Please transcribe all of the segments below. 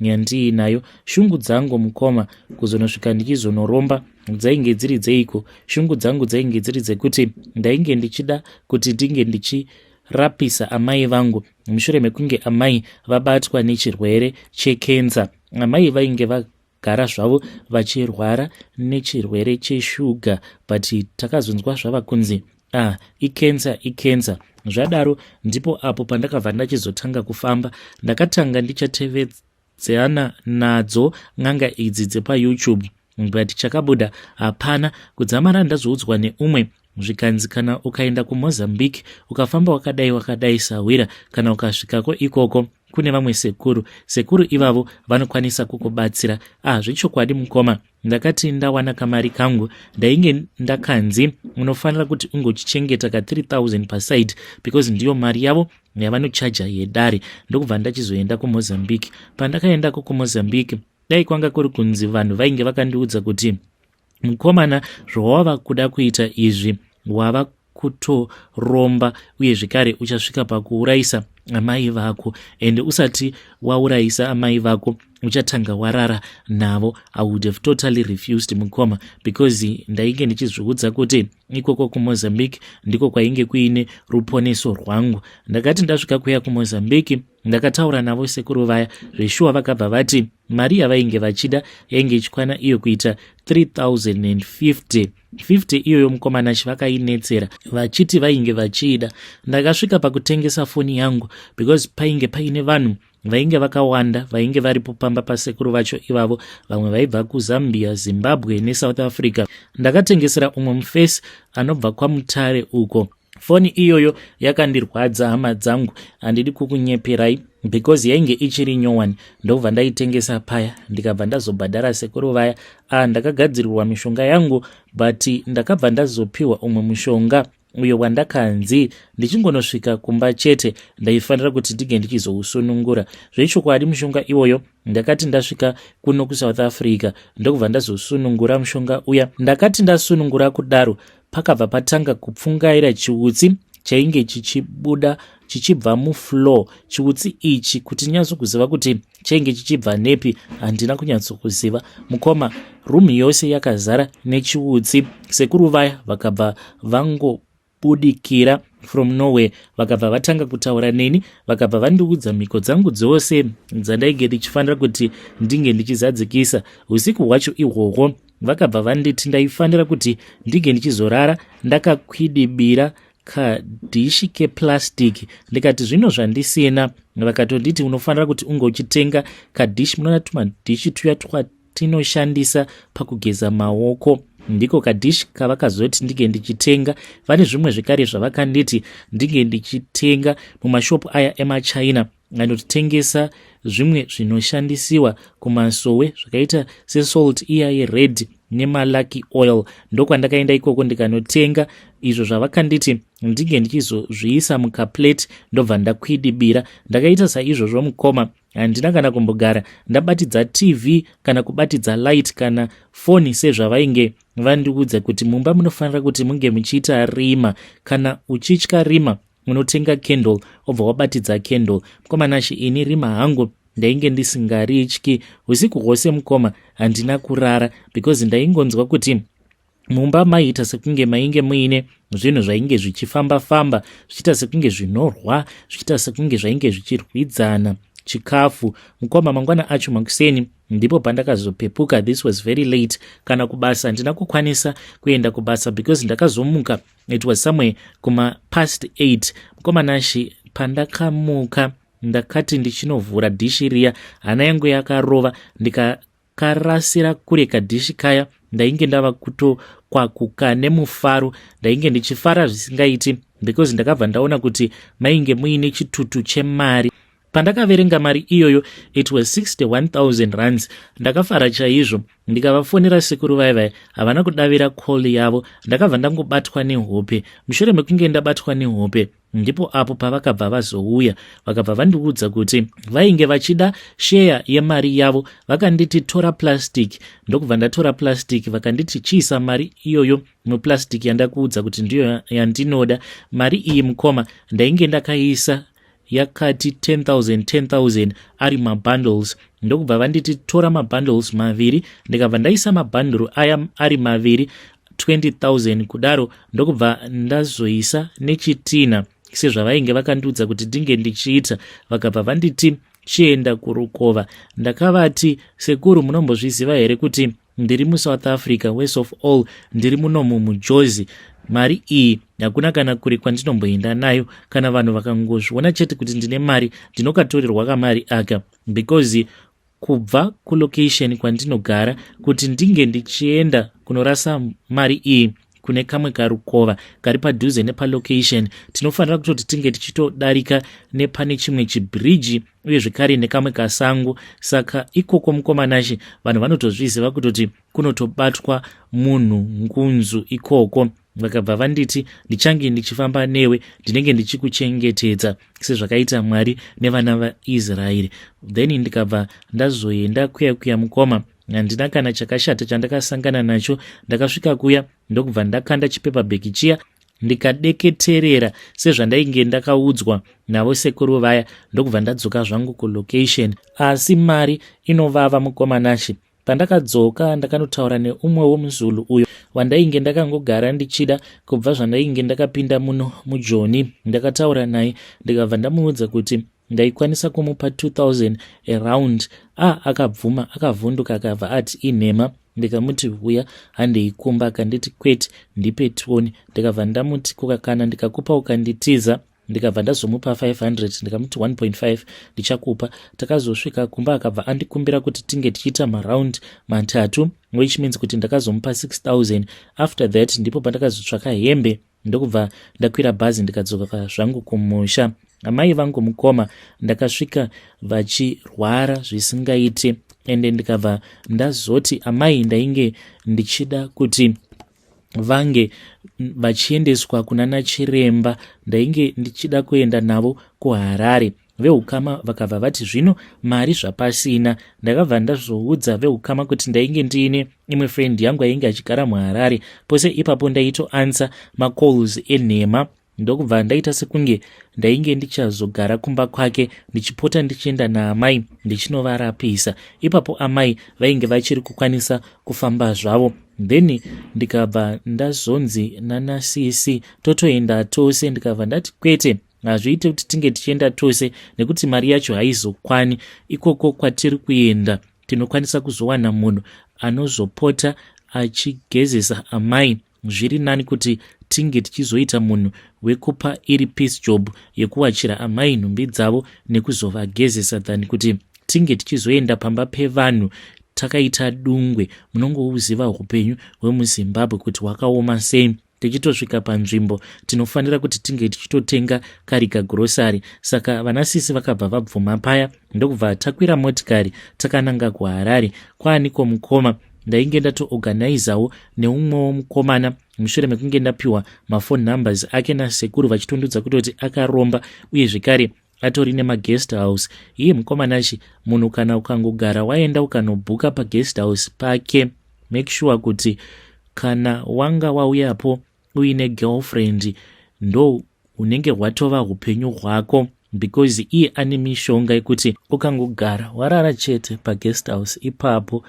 Nyandii nayo shungu dzangu mukoma kuzonosvika ndichizonoromba dzainge dziri dzeiko shungu dzangu dzainge dziri dzekuti ndainge ndichida kuti ndinge ndichi rapisa amai vangu mushure mekunge amai vabatwa nechirwere chekenza amai vainge vagara zvavo vachirwara nechirwere cheshuga but takazonzwa zvava kunzi Ah, icancer icancer zvadaro ndipo apo pandakabva ndachizotanga kufamba ndakatanga ndichatevedzana nadzo n'anga idzi dzepayoutube but chakabuda hapana kudzamara ndazoudzwa neumwe zvikanzi kana ukaenda kumozambique ukafamba wakadai wakadai sahwira kana ukasvikako ikoko kune vamwe sekuru sekuru ivavo vanokwanisa kukubatsira ah zvechokwadi mukoma ndakati ndawana kamari kangu ndainge ndakanzi unofanira kuti unge uchichengeta ka 3000 paside because ndiyo mari yavo yavanochaja yedare ndokubva ndachizoenda kumozambique pandakaendako kumozambique dai kwanga kuri kunzi vanhu vainge vakandiudza kuti mukomana zvawava kuda kuita izvi wava kutoromba uye zvekare uchasvika pakuurayisa amai vako and usati waurayisa amai vako uchatanga warara navo i would have totally refused mukoma because ndainge ndichizviudza kuti ikoko kumozambique ndiko kwainge kuine ruponeso rwangu ndakati ndasvika kuya kumozambique ndakataura navo sekuru vaya zveshuwa vakabva vati mari yavainge vachida yainge ichikwana iyo kuita 3050 50 iyoyo mukomana chivakainetsera vachiti vainge vachiida ndakasvika pakutengesa foni yangu because painge paine vanhu vainge vakawanda vainge varipo pamba pasekuru vacho ivavo vamwe vaibva kuzambia zimbabwe nesouth africa ndakatengesera umwe mufesi anobva kwamutare uko foni iyoyo yakandirwadza hama dzangu handidi kukunyeperai because yainge ichiri nyowani ndobva ndaitengesa paya ndikabva ndazobhadhara sekuru vaya a ah, ndakagadzirirwa mishonga yangu but ndakabva ndazopiwa umwe mushonga uyo wandakanzi ndichingonosvika kumba chete ndaifanira kuti ndinge ndichizousunungura zvechokwadi mushonga iwoyo ndakati ndasvika kuno kusouth africa ndokubva ndazosunungura mushonga uya ndakati ndasunungura kudaro pakabva patanga kupfungaira chiutsi chainge chichibuda chichibva mufloor chiutsi ichi kuti nyatsokuziva kuti chainge chichibva nepi handina kunyatsokuziva mukoma room yose yakazara nechiutsi sekuru vaya vakabva vango kubudikira from norway vakabva vatanga kutaura neni vakabva vandiudza mhiko dzangu dzose dzandainge ndichifanira kuti ndinge ndichizadzikisa usiku hwacho ihwohwo vakabva vanditi ndaifanira kuti ndinge ndichizorara ndakakwidibira kadhishi keplastic ndikati zvino zvandisina vakatonditi unofanira kuti unge uchitenga kadhishi munoona tumadhishi tuya twatinoshandisa pakugeza maoko ndiko kadhishi kavakazoti ndinge ndichitenga vane zvimwe zvekare zvavakanditi ndinge ndichitenga mumashopu aya emachina Anotengesa zvimwe zvinoshandisiwa kumasowe zvakaita sesalt iya yered nemalucky oil ndokwandakaenda ikoko ndikanotenga izvo zvavakanditi ndinge ndichizozviisa mukaplate ndobva ndakwidibira ndakaita saizvozvo mukoma handina kana kumbogara ndabatidza tv kana kubatidza light kana foni sezvavainge vandiudza kuti mumba munofanira kuti munge muchiita rima kana uchitya rima Unotenga candle obva wabatidza candle. Mkoma Nashy ini rima hangu ndainge ndisingarityi usiku hwose mukoma handina kurara because ndaingonzwa kuti mumba maiita sekunge mainge muine zvinhu zvainge zvichifamba famba zvichiita sekunge zvinorwa zvichiita sekunge zvainge zvichirwidzana chikafu mukoma mangwana acho makuseni ndipo pandakazopepuka this was very late kana kubasa handina kukwanisa kuenda kubasa because ndakazomuka it was somewhere kuma past 8 mukoma nashi pandakamuka ndakati ndichinovhura dhishi riya hana yangu yakarova ndikakarasira kure kadhishi kaya ndainge ndava kutokwakuka nemufaro ndainge ndichifara zvisingaiti because ndakabva ndaona kuti mainge muine chitutu chemari Pandakaverenga mari iyoyo it was 61000 rands ndakafara chaizvo ndikavafonera sekuru vaye vaye havana kudavira call yavo ndakabva ndangobatwa nehope mushure mekunge ndabatwa nehope ndipo apo pavakabva vazouya vakabva vandiudza kuti vainge vachida sheya yemari yavo vakanditi tora plastic ndokubva ndatora plastic vakanditi chiisa mari iyoyo muplastic yandakuudza kuti ndiyo yandinoda mari iyi mukoma ndainge ndakaisa yakati 10000 10000 ari mabundles ndokubva vanditi tora mabundles maviri ndikabva ndaisa mabhanduru aya ari maviri 20000 kudaro ndokubva ndazoisa nechitina sezvavainge vakandiudza kuti ndinge ndichiita vakabva vanditi chienda kurukova ndakavati sekuru munombozviziva here kuti Ndiri mu South Africa worse of all ndiri muno mu mujozi mari iyi hakuna kana kure kwandinomboenda nayo kana vanhu vakangozviona chete kuti ndine mari ndinokatorerwa kamari aka because kubva kulocation kwandinogara kuti ndinge ndichienda kunorasa mari iyi kune kamwe karukova kari padhuze nepalocation tinofanira kutoti tinge tichitodarika nepane chimwe chibhiriji uye zvekare nekamwe kasango saka ikoko mukomanashe vanhu vanotozviziva kutoti kunotobatwa munhu ngunzu ikoko vakabva vanditi ndichange ndichifamba newe ndinenge ndichikuchengetedza sezvakaita mwari nevana vaisraeri then ndikabva ndazoenda kuya kuya mukoma handina kana chakashata chandakasangana nacho ndakasvika kuya ndokubva ndakanda chipepa bheki chiya ndikadeketerera sezvandainge ndakaudzwa navo sekuru vaya ndokubva ndadzoka zvangu kulocation asi mari inovava mukomanashe pandakadzoka ndakanotaura neumwe womuzulu uyo wandainge ndakangogara ndichida kubva zvandainge ndakapinda muno mujoni ndakataura naye ndikabva ndamuudza kuti ndaikwanisa kumupa 2000 around a ah, akabvuma akavhunduka akabva ati inhema ndikamuti vuya handei kumba akanditi kwete ndipe toni ndikabva ndamuti kukakana ndikakupa ukanditiza ndikabva ndazomupa 500 ndikamuti 1.5 ndichakupa takazosvika kumba akabva andikumbira kuti tinge tichiita maround matatu which means kuti ndakazomupa 6000 after that ndipo pandakazotsvaka hembe ndokubva ndakwira bhazi ndikadzoka zvangu kumusha amai vangu mukoma ndakasvika vachirwara zvisingaiti ende ndikabva ndazoti amai ndainge ndichida kuti vange vachiendeswa kuna nachiremba ndainge ndichida kuenda navo kuharare Vehukama vakabva vati zvino mari zvapasina. Ndakabva ndazoudza vehukama kuti ndainge ndiine imwe friend yangu ainge achigara muharare. Pose ipapo ndaitoansa macalls enhema ndokubva ndaita sekunge ndainge ndichazogara kumba kwake ndichipota ndichienda naamai ndichinovarapisa. Ipapo amai vainge vachiri kukwanisa kufamba zvavo then ndikabva ndazonzi nanasisi totoenda tose ndikabva ndati kwete hazviite kuti tinge tichienda tose nekuti mari yacho haizokwani ikoko kwatiri kuenda tinokwanisa kuzowana munhu anozopota achigezesa amai zviri nani kuti tinge tichizoita munhu wekupa iri peace job yekuwachira amai nhumbi dzavo nekuzovagezesa than kuti tinge tichizoenda pamba pevanhu takaita dungwe munongouziva upenyu hwemuzimbabwe kuti hwakaoma sei tichitosvika panzvimbo tinofanira kuti tinge tichitotenga kari kagurosari saka vana sisi vakabva vabvuma paya ndokubva takwira motikari takananga kuharare kwaaniko mukoma ndainge ndatoorganizawo neumwewo mukomana mushure mekunge ndapiwa mafone numbers ake nasekuru vachitondudza kutoti akaromba uye zvekare atori nemaguest house iye mukomanachi munhu kana ukangogara waenda ukanobhuka paguest house pake make sure kuti kana wanga wauyapo uine girlfriend ndo unenge hwatova upenyu hwako because iye ane mishonga yekuti ukangogara warara chete paguest house ipapo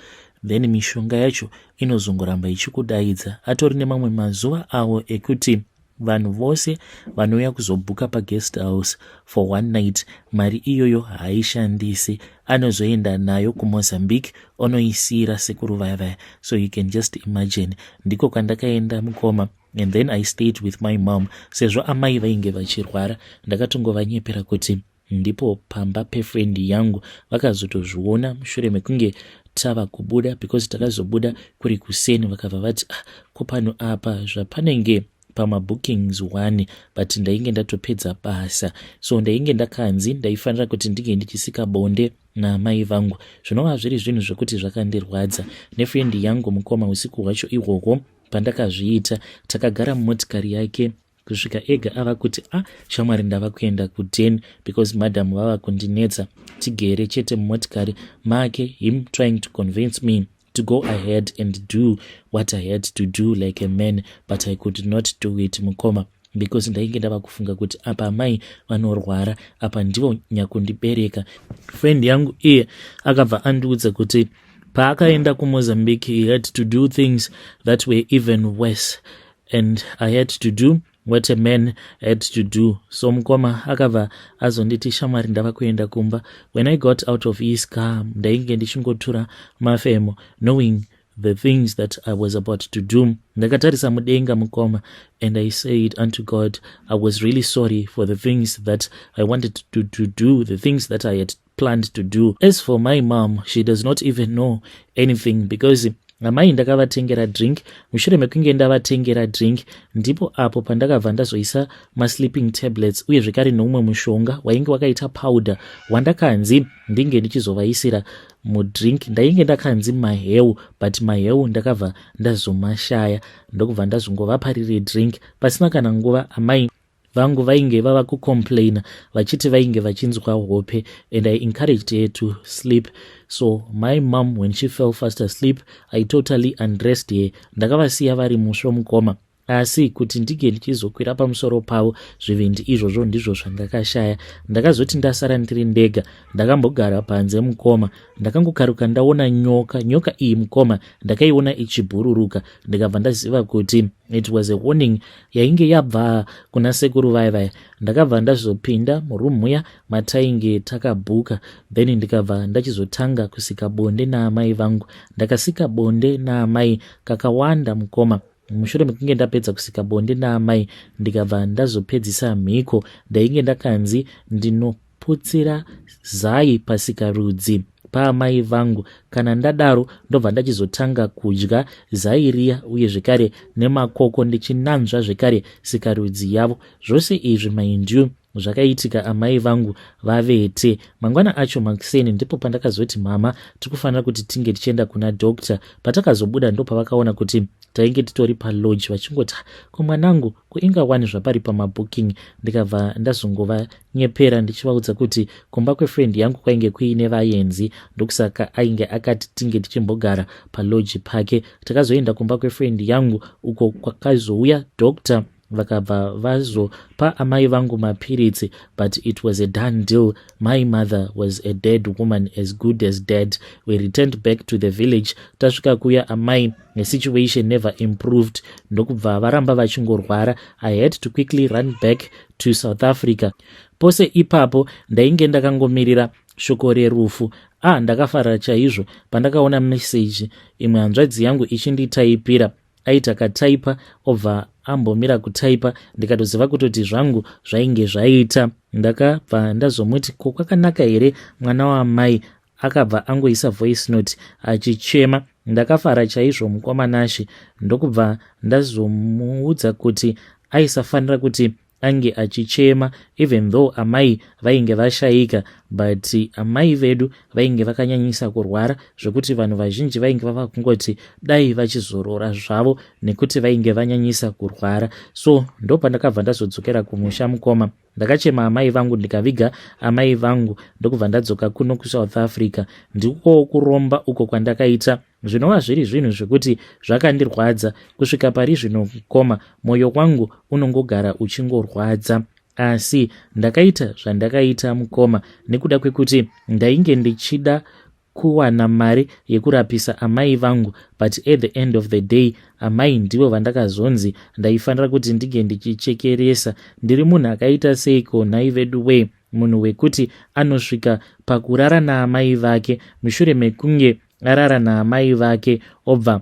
then mishonga yacho inozongoramba ichikudaidza atori nemamwe mazuva avo ekuti Vanhu vose vanouya kuzobhuka paguest house for one night mari iyoyo haishandisi anozoenda nayo kumozambique onoisiira sekuru vaya vaya so you can just imagine ndiko kwandakaenda mukoma and then i stayed with my mom sezvo amai vainge vachirwara ndakatongovanyepera kuti Ndipo pamba pefriend yangu vakazotozviona mushure mekunge tava kubuda because takazobuda kuri kuseni vakabva vati ah, ko pano apa zvapanenge pamabookings one but ndainge ndatopedza basa so ndainge ndakanzi ndaifanira kuti ndinge ndichisika bonde naamai vangu zvinova zviri zvinhu zvekuti zvakandirwadza nefriend yangu mukoma usiku hwacho ihwohwo pandakazviita takagara mumotikari yake kusvika ega ava kuti a ah, shamwari ndava kuenda kuden because madam vava kundinetsa tigere chete mumotikari make him trying to convince me to go ahead and do what i had to do like a man but i could not do it mukoma because ndainge ndava kufunga kuti apa amai vanorwara apa ndivo nyakundibereka friend yangu iye akabva andiudza kuti paakaenda kumozambique he had to do things that were even worse and I had to do what a man had to do so mukoma akabva azonditi shamwari ndava kuenda kumba when I got out of his car ndainge ndichingotura mafemo knowing the things that I was about to do ndakatarisa mudenga mukoma and I said unto God I was really sorry for the things that I wanted to, to do the things that I had planned to do. As for my mom, she does not even know anything because amai ndakavatengera drink mushure mekunge ndavatengera drink ndipo apo pandakabva ndazoisa masleeping tablets uye zvekare noumwe mushonga wainge wakaita powder wandakanzi ndinge ndichizovaisira mudrink ndainge ndakanzi maheu but maheu ndakabva ndazomashaya ndokubva ndazongovapa riri drink pasina kana nguva amai vangu vainge vava kucomplaina vachiti vainge vachinzwa hope and i encouraged her to sleep so my mom when she fell fast asleep i totally undressed her ndakavasiya vari musvo mukoma asi kuti ndige ndichizokwira pamusoro pavo zvivindi izvozvo ndizvo zvangakashaya ndakazoti ndasara ndiri ndega ndakambogara panze mukoma ndakangokaruka ndaona nyoka nyoka iyi mukoma ndakaiona ichibhururuka ndikabva ndaziva kuti it was a warning yainge yabva kuna sekuru vaya vaya ndakabva ndazopinda muroom muya matainge takabhuka then ndikabva ndachizotanga kusika bonde naamai vangu ndakasika bonde naamai kakawanda mukoma mushure mekunge ndapedza kusika bonde naamai ndikabva ndazopedzisa mhiko ndainge ndakanzi ndino putsira zai pasikarudzi paamai vangu kana ndadaro ndobva ndachizotanga kudya zai riya uye zvekare nemakoko ndichinanzva zvekare sikarudzi yavo zvose izvi maindiu zvakaitika amai vangu vavete mangwana acho makuseni ndipo pandakazoti mama tikufanira kuti tinge tichienda kuna doctor patakazobuda ndopavakaona kuti tainge titori palodge vachingoti ko mwanangu kuinga wani zvapari pamabooking ndikabva ndazongova nyepera ndichivaudza kuti kumba kwefriend yangu kwainge kuine vayenzi ndokusaka ainge akati tinge tichimbogara paloji pake takazoenda kumba kwefriend yangu uko kwakazouya doctor vakabva vazopa amai vangu mapiritsi but it was a done deal my mother was a dead woman as good as dead we returned back to the village tasvika kuya amai nesituation never improved ndokubva varamba vachingorwara i had to quickly run back to south africa pose ipapo ndainge ndakangomirira shoko rerufu ah ndakafara chaizvo pandakaona meseji imwe hanzvadzi yangu ichinditaipira aita kataipa obva ambomira kutaipa ndikatoziva kutoti zvangu zvainge zvaita ndakabva ndazomuti ko kwakanaka here mwana waamai akabva angoisa voice note achichema ndakafara chaizvo mukoma nashe ndokubva ndazomuudza kuti aisafanira kuti ange achichema even though amai vainge vashaika but amai vedu vainge vakanyanyisa kurwara zvekuti vanhu vazhinji vainge vava kungoti dai vachizorora zvavo nekuti vainge vanyanyisa kurwara so ndopandakabva ndazodzokera kumusha mukoma Ndakachema amai vangu ndikaviga amai vangu ndokubva ndadzoka kuno kusouth africa ndikowo kuromba uko kwandakaita zvinova zviri zvinhu zvekuti zvakandirwadza kusvika pari zvino mukoma mwoyo wangu unongogara uchingorwadza asi ndakaita zvandakaita mukoma nekuda kwekuti ndainge ndichida kuwana mari yekurapisa amai vangu but at the end of the day amai ndivo vandakazonzi ndaifanira kuti ndinge ndichichekeresa ndiri munhu akaita seiko nhai vedu wee munhu wekuti anosvika pakurara naamai vake mushure mekunge arara naamai vake obva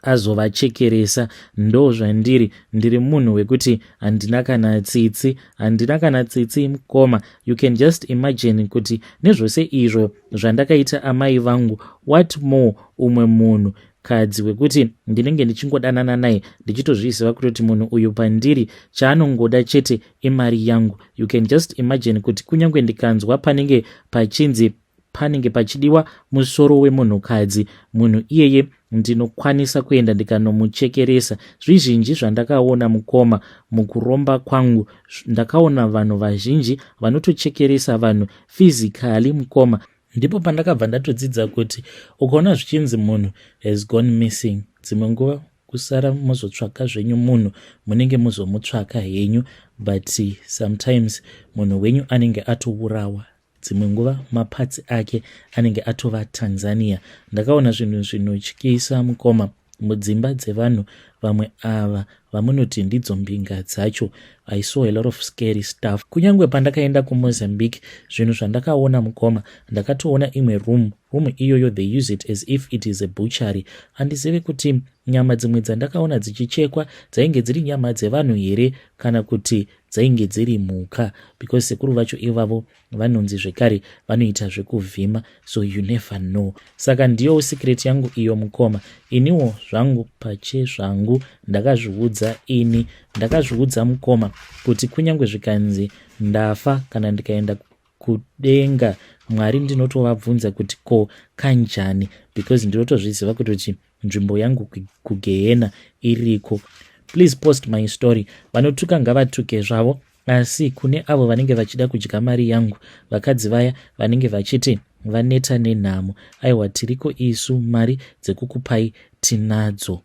azovachekeresa ndo zvandiri ndiri munhu wekuti handina kana tsitsi handina kana tsitsi mkoma you can just imagine kuti nezvose izvo zvandakaita amai vangu what more umwe munhu kadzi wekuti ndinenge ndichingodanana naye ndichitozviziva kutoti munhu uyu pandiri chaanongoda chete imari yangu you can just imagine kuti kunyange ndikanzwa panenge pachinzi panenge pachidiwa musoro wemunhukadzi munhu iyeye ndinokwanisa kuenda ndikanomuchekeresa zvizhinji zvandakaona mukoma mukuromba kwangu ndakaona vanhu vazhinji vanotochekeresa vanhu physically mukoma ndipo pandakabva ndatodzidza kuti ukaona zvichinzi munhu has gone missing dzimwe nguva kusara mozotsvaka zvenyu munhu munenge muzomutsvaka henyu but sometimes munhu wenyu anenge atourawa dzimwe nguva maparts ake anenge atova tanzania ndakaona zvinhu zvinotyisa mukoma mudzimba dzevanhu vamwe ava vamunoti ndidzo mbinga dzacho i saw a lot of scary stuff kunyange pandakaenda kumozambique zvinhu zvandakaona mukoma ndakatoona imwe room room iyoyo they use it as if it is a butchery handizivi kuti nyama dzimwe dzandakaona dzichichekwa dzainge dziri nyama dzevanhu here kana kuti dzainge dziri mhuka because sekuru vacho ivavo vanonzi zvekare vanoita zvekuvhima so you never know saka ndiyo secret yangu iyo mukoma iniwo zvangu pache zvangu ndakazviudza ini ndakazviudza mukoma kuti kunyange zvikanzi ndafa kana ndikaenda kudenga mwari ndinotovabvunza kuti ko kanjani because ndinotozviziva kuti kuti nzvimbo yangu kugehena iriko please post my story vanotuka ngavatuke zvavo asi kune avo vanenge vachida kudya mari yangu vakadzi vaya vanenge vachiti vaneta nenhamo aiwa tiriko isu mari dzekukupai tinadzo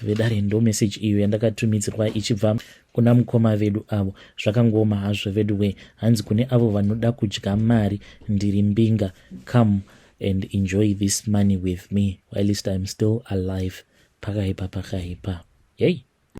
vedare ndo message iyo yandakatumidzirwa ichibva kuna mukoma vedu avo zvakangooma hazvo vedu wee hanzi kune avo vanoda kudya mari ndiri mbinga come and enjoy this money with me whilst im still alive pakaipa pakaipa yei hey.